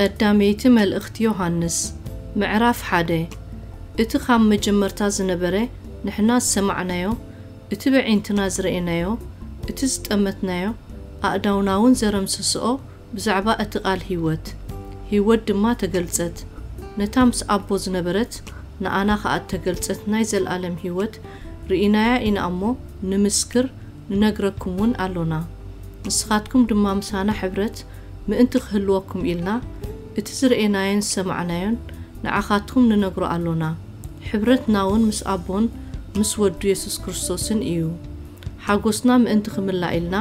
ቀዳመይቲ መልእኽቲ ዮሃንስ ምዕራፍ ሓደ እቲ ኻብ መጀመርታ ዝነበረ ንሕና ዝሰማዕናዮ እቲ በዒንትና ዝረኤናዮ እቲ ዝጠመትናዮ ኣእዳውናውን ዘረምሰስኦ ብዛዕባ እቲ ቓል ህይወት፣ ህይወት ድማ ተገልጸት፣ ነታ ምስ ኣቦ ዝነበረት፣ ንኣና ኸኣ እተገልጸት ናይ ዘለኣለም ህይወት ርኢናያ ኢና እሞ፣ ንምስክር፣ ንነግረኩምውን ኣሎና። ንስኻትኩም ድማ ምሳና ሕብረት ምእንቲ ኽህልወኩም ኢልና፣ እቲ ዝረኤናዮን ዝሰማዕናዮን ንዓኻትኩም ንነግሮ ኣሎና። ሕብረትናውን ምስ ኣቦን ምስ ወዱ የሱስ ክርስቶስን እዩ። ሓጎስና ምእንቲ ክምላእ ኢልና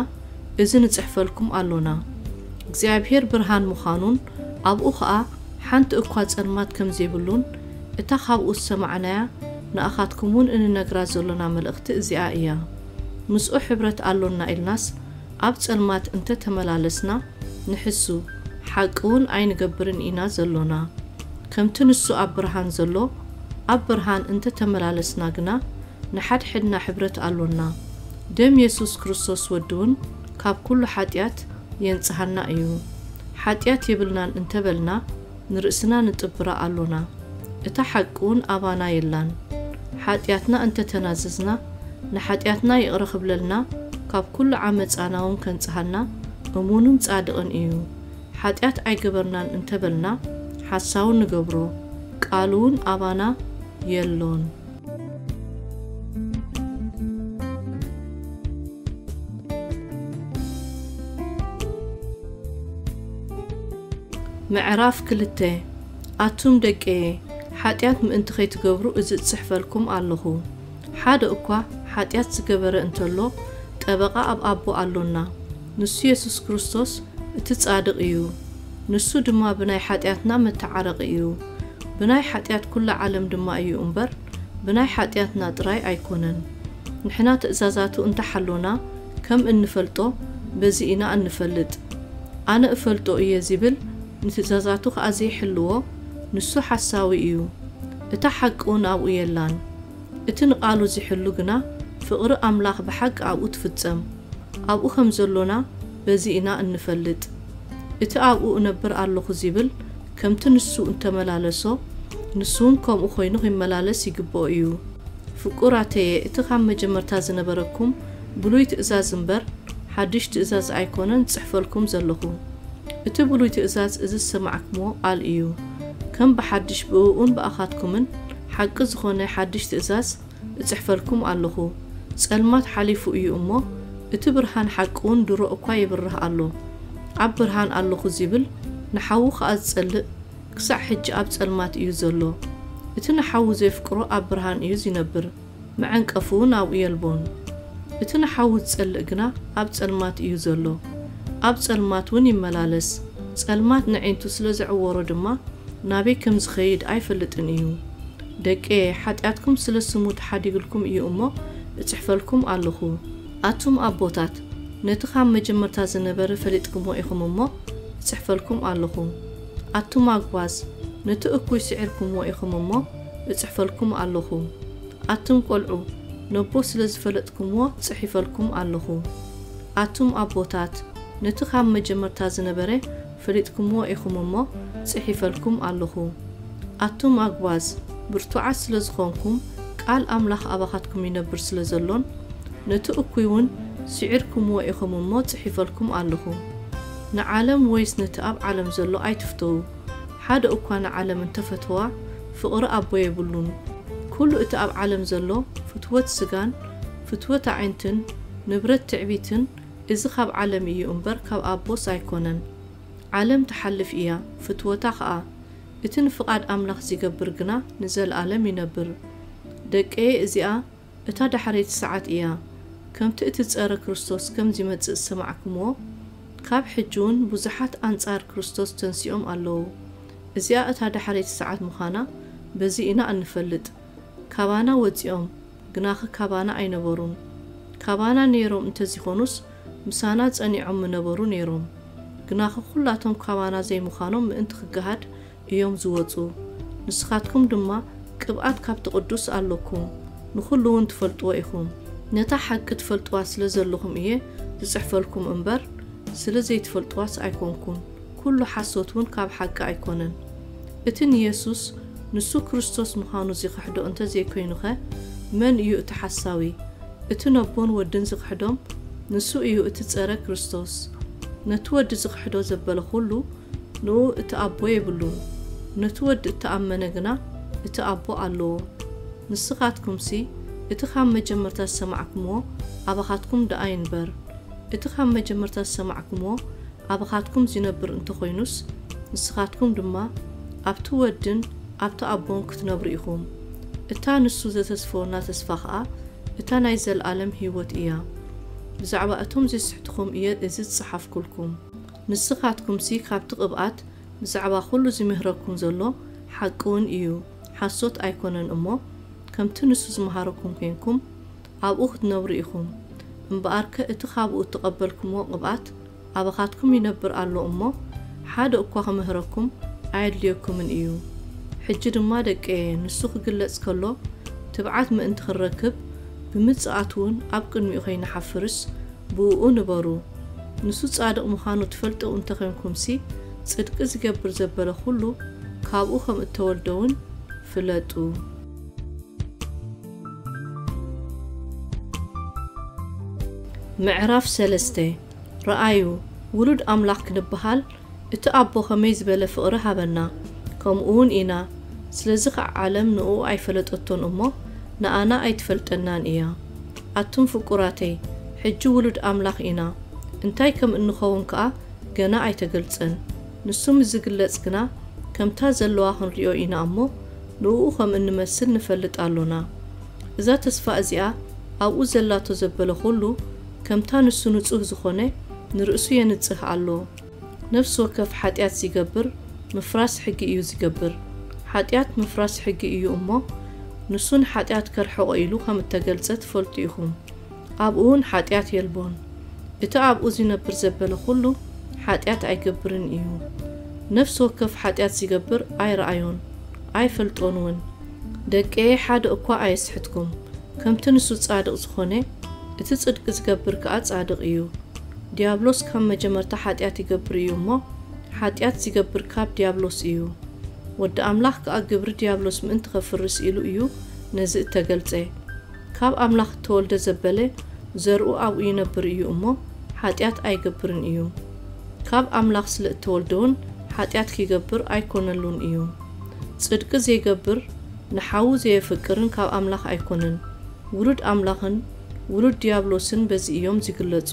እዚ ንጽሕፈልኩም ኣሎና። እግዚኣብሄር ብርሃን ምዃኑን ኣብኡ ኸኣ ሓንቲ እኳ ጸልማት ከም ዘይብሉን እታ ኻብኡ ዝሰማዕናያ ንኣኻትኩምውን እንነግራ ዘሎና መልእኽቲ እዚኣ እያ። ምስኡ ሕብረት ኣሎና ኢልናስ ኣብ ጸልማት እንተ ተመላለስና ንሕሱ፣ ሓቂውን ኣይንገብርን ኢና ዘሎና። ከምቲ ንሱ ኣብ ብርሃን ዘሎ ኣብ ብርሃን እንተ ተመላለስና ግና ንሓድሕድና ሕብረት ኣሎና። ደም የሱስ ክርስቶስ ወዱውን ካብ ኩሉ ሓጢኣት የንጽሃና እዩ። ሓጢኣት የብልናን እንተ በልና ንርእስና ንጥብራ ኣሎና እታ ሓቂውን ኣባና የላን። ሓጢኣትና እንተ ተናዘዝና ንሓጢኣትና ይቕረ ክብለልና ካብ ኩሉ ዓመጻናውን ከንጽሃና እሙንን ጻድቕን እዩ። ሓጢኣት ኣይገበርናን እንተ በልና ሓሳዊ ንገብሮ ቃሉውን ኣባና የሎን። ምዕራፍ ክልተ ኣቱም ደቄየ ሓጢኣት ምእንቲ ኸይትገብሩ እዚ እጽሕፈልኩም ኣለኹ። ሓደ እኳ ሓጢኣት ዝገበረ እንተሎ ጠበቓ ኣብ ኣቦ ኣሎና፣ ንሱ የሱስ ክርስቶስ እቲ ጻድቕ እዩ፣ ንሱ ድማ ብናይ ሓጢኣትና መተዓረቒ እዩ። ብናይ ሓጢኣት ኩላ ዓለም ድማ እዩ እምበር ብናይ ሓጢኣትና ጥራይ ኣይኮነን። ንሕና ትእዛዛቱ እንተ ሓሎና ከም እንፈልጦ በዚ ኢና እንፈልጥ። ኣነ እፈልጦ እየ ዚብል ንትእዛዛቱ ኸኣ ዘይሕልዎ ንሱ ሓሳዊ እዩ፣ እታ ሓቂውን ኣብኡ የላን። እቲ ንቓሉ ዚሕሉ ግና ፍቕሪ ኣምላኽ ብሓቂ ኣብኡ ትፍጸም። ኣብኡ ከም ዘሎና በዚ ኢና እንፈልጥ። እቲ ኣብኡ እነብር ኣሎኹ ዚብል ከምቲ ንሱ እተመላለሶ፣ ንሱውን ከምኡ ዀይኑ ኺመላለስ ይግብኦ እዩ። ፍቁራተየ፣ እቲ ኻብ መጀመርታ ዝነበረኩም ብሉይ ትእዛዝ እምበር፣ ሓድሽ ትእዛዝ ኣይኰነን ዝጽሕፈልኩም ዘሎኹ። እቲ ብሉይ ትእዛዝ እዚ ዝሰማዕክምዎ ቓል እዩ። ከም ብሓድሽ ብእኡን ብኣኻትኩምን ሓቂ ዝዀነ ሓድሽ ትእዛዝ፣ እጽሕፈልኩም ኣሎኹ። ጸልማት ሓሊፉ እዩ እሞ፣ እቲ ብርሃን ሓቂውን ድሮ እኳ ይብርህ ኣሎ። ኣብ ብርሃን ኣሎኹ ዚብል፣ ንሓዉ ኸኣ ዚጸልእ፣ ክሳዕ ሕጂ ኣብ ጸልማት እዩ ዘሎ። እቲ ንሓዉ ዜፍቅሮ ኣብ ብርሃን እዩ ዚነብር፣ መዐንቀፍውን ኣብኡ የልቦን። እቲ ንሓዉ ዚጸልእ ግና ኣብ ጸልማት እዩ ዘሎ፣ ኣብ ጸልማትውን ይመላለስ፣ ጸልማት ነዒንቱ ስለ ዘዕወሮ ድማ፣ ናበይ ከም ዚኸይድ ኣይፈልጥን እዩ። ደቄ፣ ሓጢኣትኩም ስለ ስሙ ተሓዲግልኩም እዩ እሞ፣ እጽሕፈልኩም ኣሎኹ። ኣቱም ኣቦታት፣ ነቲ ኻብ መጀመርታ ዝነበረ ፈሊጥኩምዎ ኢኹም እሞ፣ እጽሕፈልኩም ኣሎኹ። ኣቱም ኣጕባዝ፣ ነቲ እኩይ ስዒርኩምዎ ኢኹም እሞ፣ እጽሕፈልኩም ኣሎኹ። ኣቱም ቈልዑ፣ ነቦ ስለ ዝፈለጥኩምዎ ጽሒፈልኩም ኣሎኹ። ኣቱም ኣቦታት፣ ነቲ ኻብ መጀመርታ ዝነበረ ፈሊጥኩምዎ ኢኹም እሞ ጽሒፈልኩም ኣሎኹ። ኣቱም ኣጕባዝ፣ ብርቱዓት ስለ ዝዀንኩም፣ ቃል ኣምላኽ ኣባኻትኩም ይነብር ስለ ዘሎን ነቲ እኩይውን ስዒርኩምዎ ኢኹም እሞ ጽሒፈልኩም ኣሎኹ። ንዓለም ወይስ ነቲ ኣብ ዓለም ዘሎ ኣይትፍተዉ። ሓደ እኳ ንዓለም እንተ ፈተዋ፣ ፍቕሪ ኣቦ የብሉን። ኵሉ እቲ ኣብ ዓለም ዘሎ ፍትወት ስጋን ፍትወት ኣዒንትን ንብረት ትዕቢትን እዚ ካብ ዓለም እዩ እምበር ካብ ኣቦስ ኣይኮነን ዓለም ትሓልፍ እያ ፍትወታ ከኣ እቲ ንፍቃድ ኣምላኽ ዚገብር ግና ንዘልኣለም ይነብር ደቀየ እዚኣ እታ ዳሕረይቲ ሰዓት እያ ከምቲ እቲ ጸረ ክርስቶስ ከም ዚመጽእ ዝሰማዕክምዎ ካብ ሕጂውን ብዙሓት ኣንጻር ክርስቶስ ተንሲኦም ኣለዉ እዚኣ እታ ዳሕረይቲ ሰዓት ምዃና በዚ ኢና እንፈልጥ ካባና ወጺኦም ግናኸ ካባና ኣይነበሩን። ካባና ነይሮም እንተዚኾኑስ ምሳና ጸኒዖም ምነበሩ ነይሮም። ግናኸ ኩላቶም ካባና ዘይምዃኖም ምእንቲ ክገሃድ እዮም ዝወጹ። ንስኻትኩም ድማ ቅብኣት ካብቲ ቅዱስ ኣሎኩም፣ ንኹሉውን ትፈልጥዎ ኢኹም። ነታ ሓቂ ትፈልጥዋ ስለ ዘሎኹም እየ ዝጽሕፈልኩም እምበር፣ ስለ ዘይትፈልጥዋስ ኣይኮንኩን። ኩሉ ሓሶት ውን ካብ ሓቂ ኣይኮነን። እቲ ንየሱስ ንሱ ክርስቶስ ምዃኑ ዚኽሕዶ እንተ ዘይኮይኑኸ መን እዩ እቲ ሓሳዊ? እቲ ነቦን ወድን ዚኽሕዶም ንሱ እዩ እቲ ጸረ ክርስቶስ። ነቲ ወዲ ዚኽሕዶ ዘበለ ኩሉ ንእኡ እቲ ኣቦ የብሉን። ነቲ ወዲ እተኣመነ ግና እቲ ኣቦ ኣሎዎ። ንስኻትኩምሲ እቲ ኻብ መጀመርታ ዝሰማዕኩምዎ ኣባኻትኩም ደኣ ይንበር። እቲ ኻብ መጀመርታ ዝሰማዕኩምዎ ኣብኻትኩም ዚነብር እንተ ዀይኑስ፣ ንስኻትኩም ድማ ኣብቲ ወድን ኣብቲ ኣቦን ክትነብሩ ኢኹም፣ እታ ንሱ ዘተስፈወና ተስፋ ኸኣ እታ ናይ ዘለኣለም ህይወት እያ። ብዛዕባ እቶም ዜስሕቱኹም እየ እዚ ዝጸሓፍኩልኩም። ንስኻትኩምሲ ካብቲ ቕብኣት ብዛዕባ ዅሉ ዚምህረኩም ዘሎ ሓቂውን እዩ፣ ሓሶት ኣይኰነን እሞ፣ ከምቲ ንሱ ዝመሃረኩም ኴንኩም፣ ኣብኡ ክትነብሩ ኢኹም። እምበኣርከ እቲ ኻብኡ እተቐበልኩምዎ ቕብኣት ኣባኻትኩም ይነብር ኣሎ እሞ፣ ሓደ እኳ ኽምህረኩም ኣየድልየኩምን እዩ። ሕጂ ድማ ደቀየ፣ ንሱ ኺግለጽ ከሎ፣ ትብዓት ምእንቲ ኽንረክብ፣ ብምጽኣቱውን ኣብ ቅድሚኡ ኸይንሓፍርስ፣ ብእኡ ንበሩ። ንሱ ጻድቕ ምዃኑ ትፈልጡ እንተ ዄንኩምሲ፣ ጽድቂ ዚገብር ዘበለ ዅሉ፣ ካብኡ ኸም እተወልደውን ፍለጡ። ምዕራፍ ሰለስተ ረኣዩ ውሉድ ኣምላኽ ክንበሃል እቲ ኣቦ ከመይ ዝበለ ፍቕሪ ሃበና ከምኡውን ኢና ስለዚ ኸኣ ዓለም ንእኡ ኣይፈለጠቶን እሞ ንኣና ኣይትፈልጠናን እያ ኣቱም ፍቁራተይ ሕጂ ውሉድ ኣምላኽ ኢና እንታይ ከም እንኸውን ከኣ ገና ኣይተገልጸን ንሱ ምስ ዝግለጽ ግና ከምታ ዘለዋ ክንሪኦ ኢና እሞ ንእኡ ኸም እንመስል ንፈልጥ ኣሎና። እዛ ተስፋ እዚኣ ኣብኡ ዘላቶ ዘበለ ዅሉ፣ ከምታ ንሱ ንጹህ ዝዀነ፣ ንርእሱ የንጽህ ኣሎ። ነፍሲ ወከፍ ሓጢኣት ዚገብር፣ ምፍራስ ሕጊ እዩ ዚገብር። ሓጢኣት ምፍራስ ሕጊ እዩ እሞ፣ ንሱ ንሓጢኣት ከርሕቖ ኢሉ ኸም እተገልጸ ትፈልጡ ኢኹም። ኣብኡውን ሓጢኣት የልቦን። እቲ ኣብኡ ዚነብር ዘበለ ዅሉ ሓጢኣት ኣይገብርን እዩ። ነፍሲ ወከፍ ሓጢኣት ዚገብር ኣይረኣዮን፣ ኣይፈልጦንውን። ደቀየ፣ ሓደ እኳ ኣየስሕትኩም። ከምቲ ንሱ ጻድቕ ዝዀነ፣ እቲ ጽድቂ ዚገብር ከኣ ጻድቕ እዩ። ድያብሎስ ካብ መጀመርታ ሓጢኣት ይገብር እዩ እሞ፣ ሓጢኣት ዚገብር ካብ ድያብሎስ እዩ። ወዲ ኣምላኽ ከኣ ግብሪ ድያብሎስ ምእንቲ ኼፍርስ ኢሉ እዩ ነዚ እተገልጸ። ካብ ኣምላኽ እተወልደ ዘበለ ዘርኡ ኣብኡ ይነብር እዩ እሞ፣ ሓጢኣት ኣይገብርን እዩ። ካብ ኣምላኽ ስለ እተወልደውን ሓጢኣት ኪገብር ኣይኰነሉን እዩ። ጽድቂ ዜገብር፣ ንሓዉ ዘየፍቅርን ካብ ኣምላኽ ኣይኰነን። ውሉድ ኣምላኽን ውሉድ ድያብሎስን በዚ እዮም ዚግለጹ።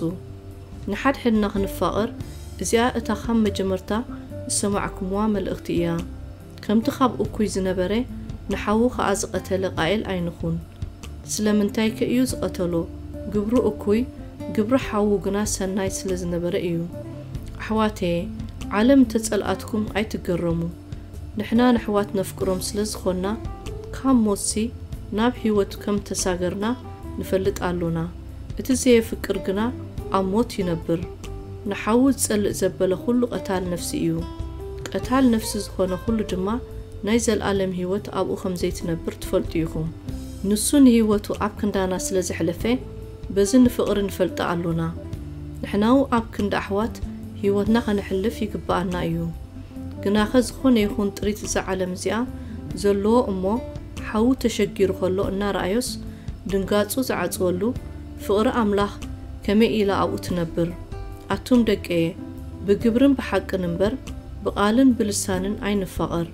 ንሓድሕድና ኽንፋቐር፣ እዚኣ እታ ኻብ መጀመርታ ዝሰማዕኩምዋ መልእኽቲ እያ። ከምቲ ኻብ እኩይ ዝነበረ ንሓዉ ኸኣ ዝቐተለ ቓኤል ኣይንኹን። ስለምንታይከ እዩ ዝቐተሎ? ግብሩ እኩይ፣ ግብሪ ሓዉ ግና ሰናይ ስለ ዝነበረ እዩ። ኣሕዋተየ፣ ዓለም እንተ ጸልኣትኩም ኣይትገረሙ። ንሕና ነሕዋት ነፍቅሮም ስለ ዝዀንና፣ ካብ ሞትሲ ናብ ህይወት ከም እተሳገርና ንፈልጥ ኣሎና። እቲ ዘየፍቅር ግና ኣብ ሞት ይነብር። ንሓዉ ዝጸልእ ዘበለ ዅሉ ቐታል ነፍሲ እዩ፣ ቐታል ነፍሲ ዝዀነ ዅሉ ድማ ናይ ዘለኣለም ህይወት ኣብኡ ኸም ዘይትነብር ትፈልጡ ኢኹም። ንሱ ንህይወቱ ኣብ ክንዳና ስለ ዘሕለፈ፣ በዚ ንፍቕሪ ንፈልጣ ኣሎና። ንሕናው ኣብ ክንዲ ኣሕዋት ህይወትና ኸነሕልፍ ይግብኣና እዩ። ግናኸ ዝዀነ ይኹን ጥሪት እዛ ዓለም እዚኣ ዘለዎ እሞ፣ ሓዉ ተሸጊሩ ከሎ እናረኣዮስ ድንጋጹ ዝዓጽወሉ ፍቕሪ ኣምላኽ ከመይ ኢላ ኣብኡ ትነብር ኣቱም ደቀየ ብግብርን ብሓቅን እምበር ብቓልን ብልሳንን ኣይንፋቐር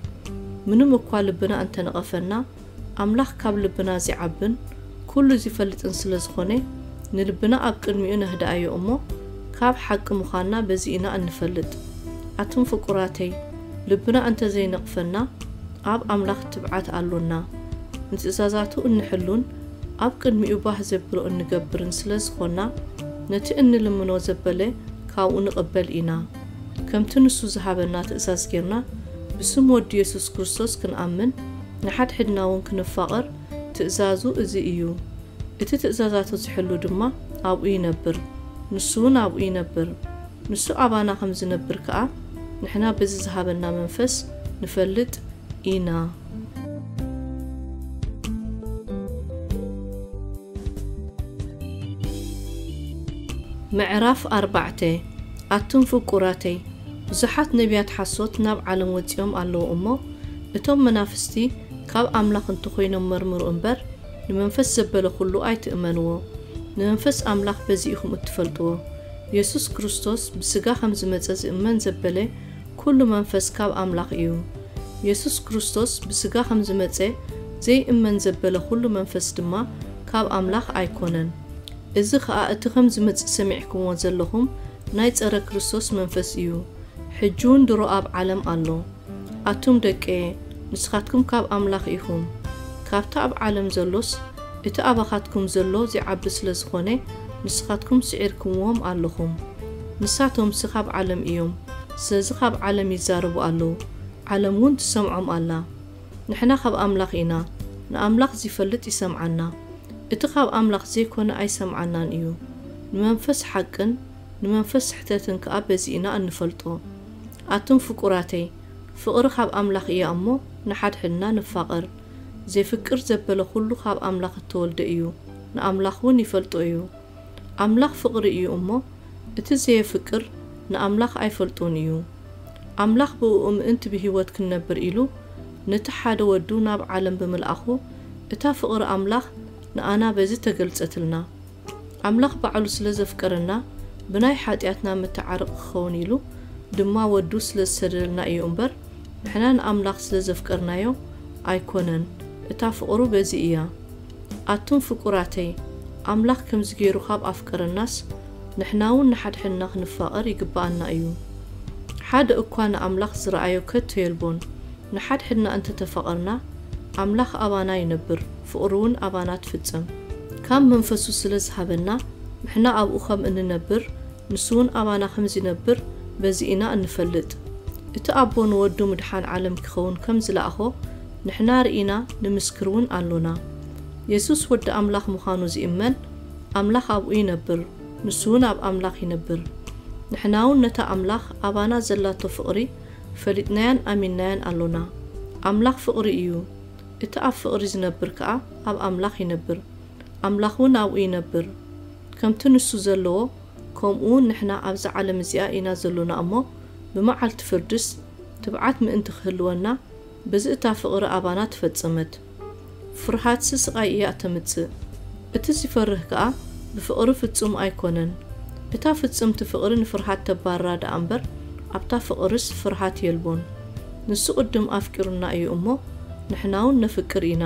ምንም እኳ ልብና እንተነቐፈና ኣምላኽ ካብ ልብና ዚዓብን ኩሉ ዚፈልጥን ስለ ዝኾነ ንልብና ኣብ ቅድሚኡ ነህድኣዮ እሞ ካብ ሓቂ ምዃንና በዚ ኢና እንፈልጥ ኣቱም ፍቁራተይ ልብና እንተ ዘይነቕፈና፣ ኣብ ኣምላኽ ትብዓት ኣሎና። ንትእዛዛቱ እንሕሉን ኣብ ቅድሚኡ ባህ ዜብሎ እንገብርን ስለ ዝዀንና፣ ነቲ እንልምኖ ዘበለ ካብኡ ንቕበል ኢና። ከምቲ ንሱ ዝሃበና ትእዛዝ ጌርና ብስም ወዱ የሱስ ክርስቶስ ክንኣምን፣ ንሓድሕድና እውን ክንፋቐር ትእዛዙ እዚ እዩ። እቲ ትእዛዛቱ ዚሕሉ ድማ ኣብኡ ይነብር፣ ንሱ እውን ኣብኡ ይነብር። ንሱ ኣባና ከም ዝነብር ከኣ ንሕና በዚ ዝሃበና መንፈስ ንፈልጥ ኢና። ምዕራፍ ኣርባዕተ ኣቱም ፍቁራተይ፣ ብዙሓት ነብያት ሓሶት ናብ ዓለም ወጺኦም ኣለዉ እሞ፣ እቶም መናፍስቲ ካብ ኣምላኽ እንተ ዀይኖም መርምሩ እምበር፣ ንመንፈስ ዘበለ ዅሉ ኣይትእመንዎ። ንመንፈስ ኣምላኽ በዚ ኢኹም እትፈልጥዎ፣ የሱስ ክርስቶስ ብስጋ ከም ዝመጸ ዚእመን ዘበለ ኩሉ መንፈስ ካብ ኣምላኽ እዩ። የሱስ ክርስቶስ ብስጋ ከም ዝመጸ ዘይእመን ዘበለ ኩሉ መንፈስ ድማ ካብ ኣምላኽ ኣይኮነን። እዚ ከኣ እቲ ከም ዝመጽእ ሰሚዕክምዎ ዘለኹም ናይ ጸረ ክርስቶስ መንፈስ እዩ። ሕጂውን ድሮ ኣብ ዓለም ኣሎ። ኣቱም ደቀየ፣ ንስኻትኩም ካብ ኣምላኽ ኢኹም፣ ካብቲ ኣብ ዓለም ዘሎስ፣ እቲ ኣባኻትኩም ዘሎ ዚዓቢ ስለ ዝዀነ፣ ንስኻትኩም ስዒርኩምዎም ኣሎኹም። ንሳቶምሲ ኻብ ዓለም እዮም፣ ስለዚ ኻብ ዓለም ይዛረቡ ኣለዉ፣ ዓለምውን ትሰምዖም ኣላ። ንሕና ኻብ ኣምላኽ ኢና፣ ንኣምላኽ ዚፈልጥ ይሰምዓና፣ እቲ ኻብ ኣምላኽ ዘይኰነ ኣይሰምዓናን እዩ። ንመንፈስ ሓቅን ንመንፈስ ስሕተትን ከኣ በዚ ኢና እንፈልጦ። ኣቱም ፍቁራተይ ፍቅሪ ካብ ኣምላክ እያ እሞ ንሓድሕድና ንፋቀር ዜፍቅር ዘበለ ኩሉ ካብ ኣምላክ እተወልደ እዩ ንኣምላክ ውን ይፈልጦ እዩ ኣምላክ ፍቅሪ እዩ እሞ እቲ ዘየፍቅር ንኣምላክ ኣይፈልጦን እዩ ኣምላክ ብእኡ ምእንቲ ብሂወት ክንነብር ኢሉ ንቲ ሓደ ወዱ ናብ ዓለም ብምልኣኩ እታ ፍቅሪ ኣምላክ ንኣና በዚ ተገልጸትልና ኣምላኽ ባዕሉ ስለ ዘፍቀረና ብናይ ሓጢኣትና መተዓረቂ ክኸውን ኢሉ ድማ ወዱ ስለ ዝሰደደልና እዩ እምበር ንሕና ንኣምላኽ ስለ ዘፍቀርናዮ ኣይኮነን እታ ፍቅሩ በዚ እያ ኣቱም ፍቁራተይ ኣምላኽ ከምዚ ጌሩ ካብ ኣፍቀረናስ ንሕናውን ንሓድሕድና ክንፋቀር ይግበኣና እዩ ሓደ እኳ ንኣምላኽ ዝረኣዮ ከቶ የልቦን ንሓድሕድና እንተተፋቀርና ኣምላኽ ኣባና ይነብር ፍቕሩውን ኣባና ትፍጽም። ካብ መንፈሱ ስለ ዝሃበና ንሕና ኣብኡ ኸም እንነብር ንሱውን ኣባና ከም ዚነብር በዚ ኢና እንፈልጥ። እቲ ኣቦ ንወዱ ምድሓን ዓለም ኪኸውን ከም ዝለኣኾ ንሕና ርኢና ንምስክርውን ኣሎና። የሱስ ወዲ ኣምላኽ ምዃኑ ዚእመን ኣምላኽ ኣብኡ ይነብር ንሱውን ኣብ ኣምላኽ ይነብር። ንሕናውን ነታ ኣምላኽ ኣባና ዘላቶ ፍቕሪ ፈሊጥናያን ኣሚንናያን ኣሎና። ኣምላኽ ፍቕሪ እዩ። እቲ ኣብ ፍቕሪ ዚነብር ከኣ ኣብ ኣምላኽ ይነብር፣ ኣምላኽውን ኣብኡ ይነብር። ከምቲ ንሱ ዘለዎ፣ ከምኡውን ንሕና ኣብዛ ዓለም እዚኣ ኢና ዘሎና እሞ፣ ብመዓልቲ ፍርድስ ትብዓት ምእንቲ ኺህልወና፣ በዚ እታ ፍቕሪ ኣባና ተፈጸመት። ፍርሃትሲ ስቓይ እያ እተምጽእ፣ እቲ ዚፈርህ ከኣ ብፍቕሪ ፍጹም ኣይኰነን። እታ ፍጽምቲ ፍቕሪ ንፍርሃት ተባርራ ደኣ እምበር፣ ኣብታ ፍቕርስ ፍርሃት የልቦን። ንሱ ቅድም ኣፍቂሩና እዩ እሞ ንሕናውን ነፍቅር ኢና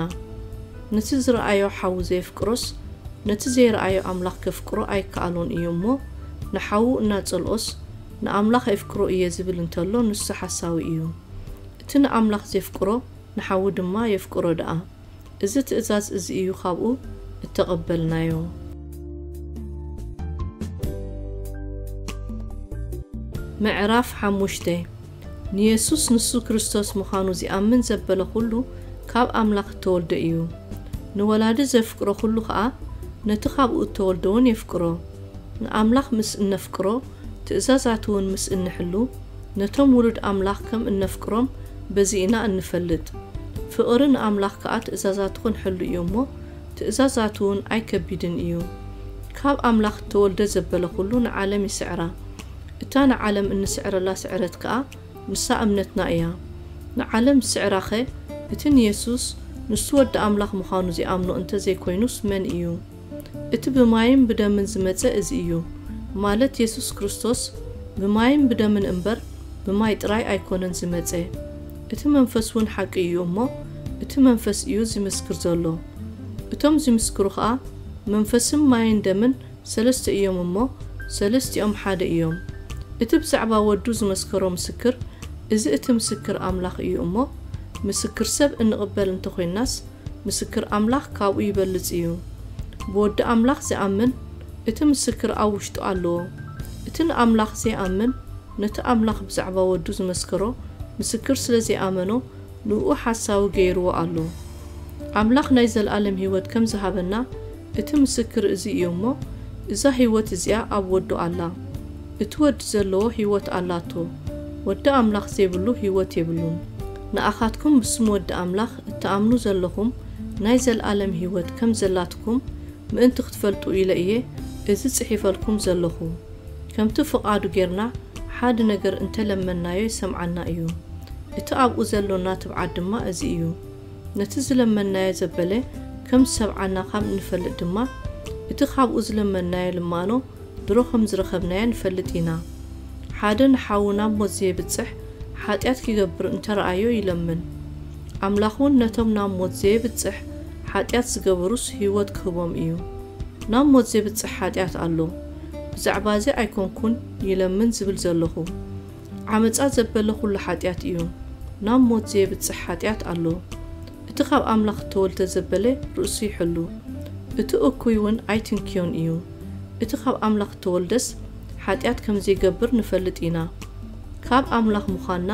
ንቲ ዝረኣዮ ሓዉ ዘየፍቅሮስ ነቲ ዘይረኣዮ ኣምላኽ ከፍቅሮ ኣይከኣሎን እዩ እሞ ንሓዉ እናጸልኦስ ንኣምላኽ ኣይፍቅሮ እየ ዝብል እንተሎ ንሱ ሓሳዊ እዩ እቲ ንኣምላኽ ዜፍቅሮ ንሓዉ ድማ የፍቅሮ ደኣ እዚ ትእዛዝ እዚ እዩ ካብኡ እተቐበልናዮ። ምዕራፍ ሓሙሽተ ንየሱስ ንሱ ክርስቶስ ምዃኑ ዚኣምን ዘበለ ዅሉ ካብ ኣምላኽ እተወልደ እዩ። ንወላዲ ዜፍቅሮ ዅሉ ኸኣ ነቲ ኻብኡ እተወልደውን የፍቅሮ። ንኣምላኽ ምስ እነፍቅሮ፣ ትእዛዛቱ እውን ምስ እንሕሉ፣ ነቶም ውሉድ ኣምላኽ ከም እነፍቅሮም በዚ ኢና እንፈልጥ። ፍቕሪ ንኣምላኽ ከኣ ትእዛዛቱ ኽንሕሉ እዩ እሞ፣ ትእዛዛቱ እውን ኣይከቢድን እዩ። ካብ ኣምላኽ እተወልደ ዘበለ ዅሉ ንዓለም ይስዕራ። እታ ንዓለም እንስዕረላ ስዕረት ከኣ ንሳ እምነትና እያ። ንዓለም ዝስዕራኸ እቲ ንየሱስ ንሱ ወዲ ኣምላኽ ምዃኑ ዚኣምኖ እንተ ዘይኮይኑስ መን እዩ? እቲ ብማይን ብደምን ዝመጸ እዚ እዩ፣ ማለት የሱስ ክርስቶስ ብማይን ብደምን እምበር ብማይ ጥራይ ኣይኮነን ዝመጸ። እቲ መንፈስ ውን ሓቂ እዩ እሞ እቲ መንፈስ እዩ ዚምስክር ዘሎ። እቶም ዚምስክሩ ኸኣ መንፈስም ማይን ደምን ሰለስተ እዮም እሞ ሰለስቲኦም ሓደ እዮም። እቲ ብዛዕባ ወዱ ዝመስከሮ ምስክር እዚ እቲ ምስክር ኣምላኽ እዩ እሞ ምስክር ሰብ እንቕበል እንተኾይንናስ ምስክር ኣምላኽ ካብኡ ይበልጽ እዩ። ብወዲ ኣምላኽ ዚኣምን እቲ ምስክር ኣብ ውሽጡ ኣለዎ። እቲ ንኣምላኽ ዘይኣምን ነቲ ኣምላኽ ብዛዕባ ወዱ ዝመስከሮ ምስክር ስለ ዘይኣመኖ ንእኡ ሓሳዊ ገይርዎ ኣሎ። ኣምላኽ ናይ ዘለኣለም ህይወት ከም ዝሃበና እቲ ምስክር እዚ እዩ እሞ፣ እዛ ህይወት እዚኣ ኣብ ወዱ ኣላ። እቲ ወዲ ዘለዎ ህይወት ኣላቶ። ወዲ ኣምላኽ ዘይብሉ ህይወት የብሉን። ንኣኻትኩም ብስም ወዲ ኣምላኽ እትኣምኑ ዘለኹም ናይ ዘልኣለም ህይወት ከም ዘላትኩም ምእንቲ ክትፈልጡ ኢለ እየ እዚ ጽሒፈልኩም ዘለኹ። ከምቲ ፍቓዱ ጌርና ሓዲ ነገር እንተ ለመንናዮ ይሰምዓና እዩ። እቲ ኣብኡ ዘሎና ትብዓት ድማ እዚ እዩ። ነቲ ዝለመንናዮ ዘበለ ከም ዝሰምዓና ኻብ እንፈልጥ ድማ፣ እቲ ኻብኡ ዝለመንናዮ ልማኖ ድሮ ኸም ዝረኸብናዮ ንፈልጥ ኢና። ሓደ ንሓዉ ናብ ሞት ዜብጽሕ ሓጢኣት ኪገብር እንተ ረኣዮ ይለምን። ኣምላኽውን ነቶም ናብ ሞት ዜብጽሕ ሓጢኣት ዝገበሩስ ህይወት ኪህቦም እዩ። ናብ ሞት ዜብጽሕ ሓጢኣት ኣሎ፣ ብዛዕባ እዚ ኣይኰንኩን ይለምን ዝብል ዘሎኹ። ዓመጻ ዘበለ ዅሉ ሓጢኣት እዩ። ናብ ሞት ዜብጽሕ ሓጢኣት ኣሎ። እቲ ኻብ ኣምላኽ እተወልደ ዘበለ ርእሱ ይሕሉ፣ እቲ እኩይውን ኣይትንክዮን እዩ። እቲ ኻብ ኣምላኽ እተወልደስ ሓጢኣት ከም ዘይገብር ንፈልጥ ኢና። ካብ ኣምላኽ ምዃንና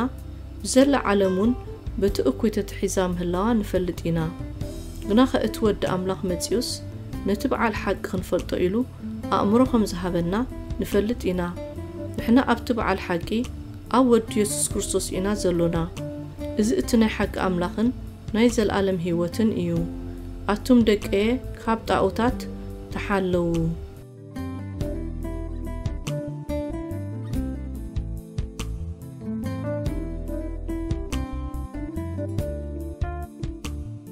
ብዘላ ዓለምውን በቲ እኩይ ተታሒዛ ምህላዋ ንፈልጥ ኢና። ግናኸ እቲ ወዲ ኣምላኽ መጺኡስ ነቲ ብዓል ሓቂ ኽንፈልጦ ኢሉ ኣእምሮ ከም ዝሃበና ንፈልጥ ኢና። ንሕና ኣብቲ በዓል ሓቂ ኣብ ወዱ የሱስ ክርስቶስ ኢና ዘሎና። እዚ እቲ ናይ ሓቂ ኣምላኽን ናይ ዘልኣለም ህይወትን እዩ። ኣቱም ደቀየ ካብ ጣኦታት ተሓለዉ።